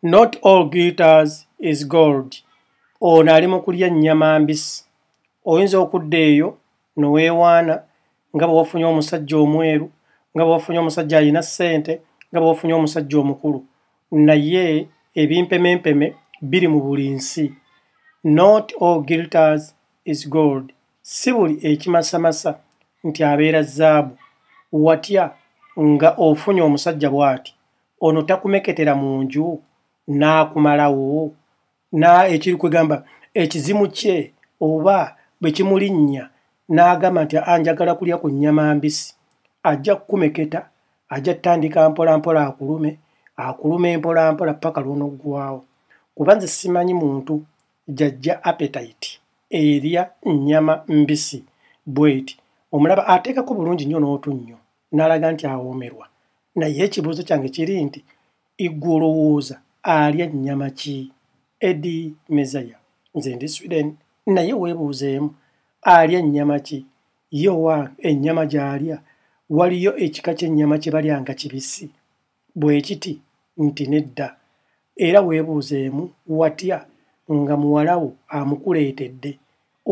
not all guitars is gold ono ali mu kulya nnyama mbisi oyinza okudda eyo noweewaana nga bwe wafunye omusajja omweru nga bwe wafunye omusajja alina ssente nga bwe wafunye omusajja omukulu naye ebimpemempeme biri mu buli nsi not all guilters is gold si buli ekimasamasa nti abeera zaabu watya nga ofunye omusajja bw'ati ono takumeketera mu nju n'akumalawo na ekiri kwegamba ekizimu kye oba bwe kimulinnya n'agamba nti anjagala kulya ku nnyama mbisi ajja kukumeketa ajja tutandika mpolampola akulume akuluma empolampola paka lwonoggwawo kuba nze simanyi muntu jajja apetite erya nnyama mbisi bweti omulaba ateekako bulungi nnyo n'otu nnyo n'alaga nti awoomerwa naye ekibuuzo kyange kiri nti igwe olowooza alya nnyama ki edi mezaya nze ndi sweden naye weebuuzeemu alya nnyama ki ye owange ennyama gy'alya waliyo ekika ky'ennyama kye balya nga kibisi bwekiti nti nedda era webuuzeemu watya nga muwalawo amukuleetedde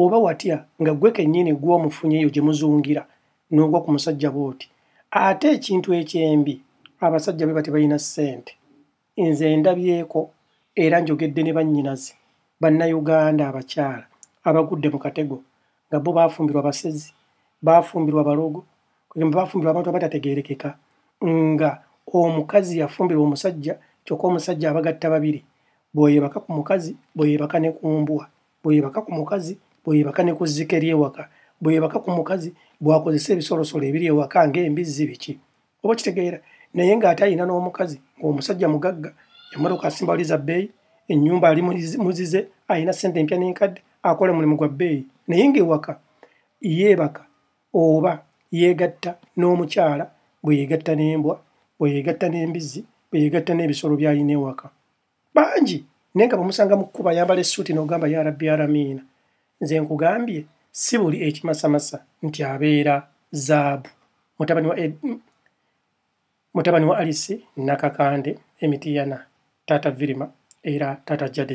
oba watya nga gwe kenyini gwomufunye eyo gyemuzungira nogwa kumusajja bwoti ate ekintu ekyembi abasajja bwebati balina sente nze ndabyeeko era njogedde ne bannyinaze bannayuganda abakyala abagudde mukatego nga bo baafumbirwa basezi baafumbirwa balogo kugamba baafumbirwa abantu abatategeerekeka nga omukazi yafumbirwa omusajja kyokka omusajja abagatta babiri bweyebaka ku mukazi bweyebaka ne ku mbwa bweyebaka ku mukazi bweyebaka ne ku zzike ly'ewaka bweyebaka ku mukazi bwakozesa ebisolosolo ebiri ewaka ng'embizzi biki oba kitegeera naye ng'ate alina n'omukazi ng'omusajja mugagga emmotoka asimba waliza bbeeyi ennyumba ali muzize alina ssente empya n'enkadde akola omulimu gwa bbeeyi naye ng'ewaka yeebaka oba yeegatta n'omukyala bwe yeegatta n'embwa bwe yeegatta n'embizzi bwe yeegatta n'ebisolo by'alina ewaka bangi naye nga bwemusanga mu kkuba ayambala essuuti n'ogamba ya rabbi aramiina nze nkugambye si buli ekimasamasa nti abeera zaabu mutabani wa mutabani wa alisi nakakande emitiyana taata virima era taata jade